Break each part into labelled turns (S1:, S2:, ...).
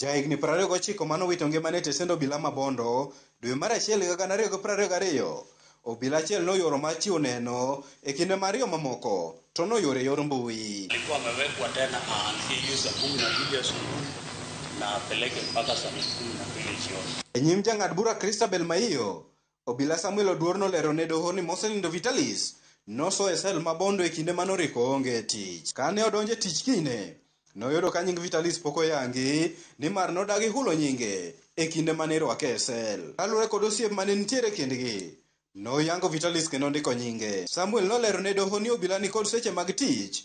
S1: Ja higni 29 mane owito ngimane e tesend obila ma Bondo dwe mar achiel higa 2022, obila achiel ne oyoro mar chiwo neno e kinde ma ariyo mamoko to ne oyoro e yor mbui. Alikuwa amewekwa
S2: tena aanzie hiyo saa kumi na mbili asubuhi na apeleke mpaka saa kumi na mbili jioni. E nyim jang'ad
S1: bura Christabel Maiyo, Obila Samuel Oduor nolero ne doho ni mosenindo Vitalis noso e sel ma Bondo e kinde mane Oriko onge e tich. Kane odonjo e tich kinyne, noyudo ka nying Vitalis pok oyangi nimar nodagi hulo nyinge e kinde mane irwake e sel. Kaluwore kod osiep mane nitiere e kindgi, noyango Vitalis kendo ondiko nyinge. Samuel nolero ne doho ni obila nikod seche mag tich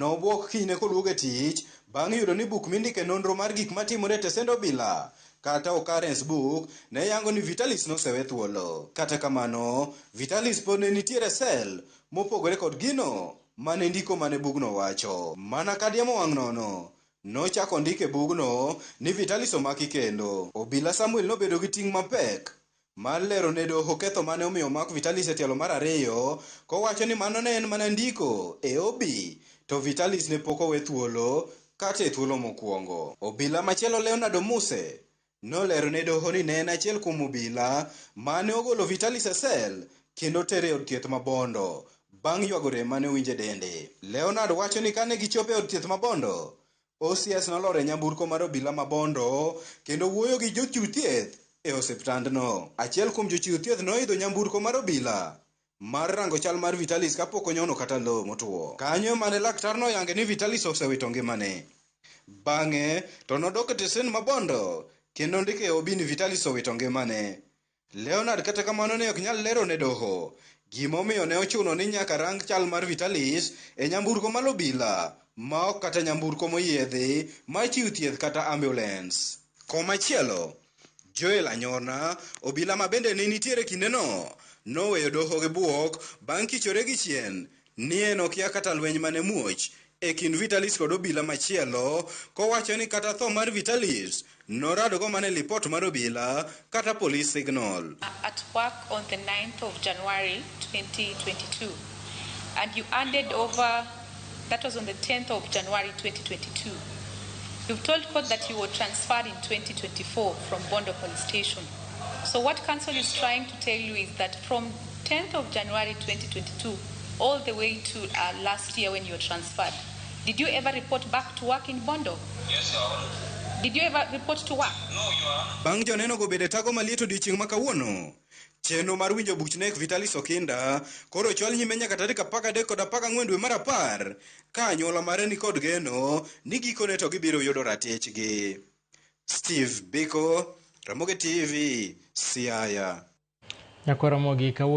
S1: Nobwok kinyne koduogo e tich bang' yudo ni buk mindike nonro mar gik matimore e tesend obila, kata Occurrence Book, ne yango ni Vitalis nosewe thuolo. Kata kamano, Vitalis pod ne nitiere e sel mopogore kod gino ma ne ndiko man e bugno wacho. Mana ka diemo wang' nono, nochak ondik e bugno ni Vitalis omaki kendo. Obila Samuel nobedo gi ting' mapek mar lero ne doho ketho mane omiyo omak Vitalis e tielo mar ariyo kowacho ni mano ne en mana ndiko e OB to Vitalis ne pok owe thuolo kata e thuolo mokuongo. Obila machielo Leonard Omuse nolero ne doho ni ne en achiel kuom obila mane ogolo Vitalis e sel kendo tere e od thieth ma Bondo bang' ywago rem mane owinjo e dende. Leonard wacho ni kane gichopo e od thieth ma Bondo, OCS nolor e nyamburko mar obila ma Bondo kendo wuoyo gi jochiw thieth e osiptandno. Achiel kuom jochiw thieth noidho nyamburko mar obila mar rango chal mar Vitalis kapok onyono kata lowo motwo. Kanyo ema ne laktar noyange ni Vitalis osewito ngimane. Bang'e to nodok e tesend ma Bondo kendo ondiko e OB ni Vitalis owito ngimane. Leonard kata kamano ne ok nyal lero ne doho gimomiyo ne ochuno ni nyaka rang chal mar Vitalis e nyamburko mar obila ma ok kata nyamburko moyiedhi mar chiw thieth kata ambulens. Komachielo, Joel Anyorna, obila ma bende ne nitiere kindeno, noweyo doho gi bwok bang' kichore gi chien nie nokia kata lweny mane muoch e kind Vitalis kod obila machielo kowacho ni kata tho mar Vitalis noradgo mana e lipot mar obila kata police signal. at work
S3: on the 9th of January 2022 and you handed over that was on the 10th of January 2022 you've told court that you were transferred in 2024 from Bondo police station so what council is trying to tell you is that from 10th of January 2022 all the way to uh, last year when you were transferred. Did you ever report back to work in Bondo? Yes, Your Honor.
S2: Did you ever
S3: report to work? No, Your Honor. Bang'
S2: joneno go bede
S1: tago maliet odiechieng' ma kawuono. Chenro mar winjo buch nek Vitalis Okinda koro chwal nyime nyaka tarik apar gadek kod apar gang'wen dwe mar apar ka anyuola mare ni kod geno ni gikone to gibiro yudo ratichgi. Steve Biko, Ramogi TV, Siaya.
S4: Nyako
S1: Ramogi kawuono.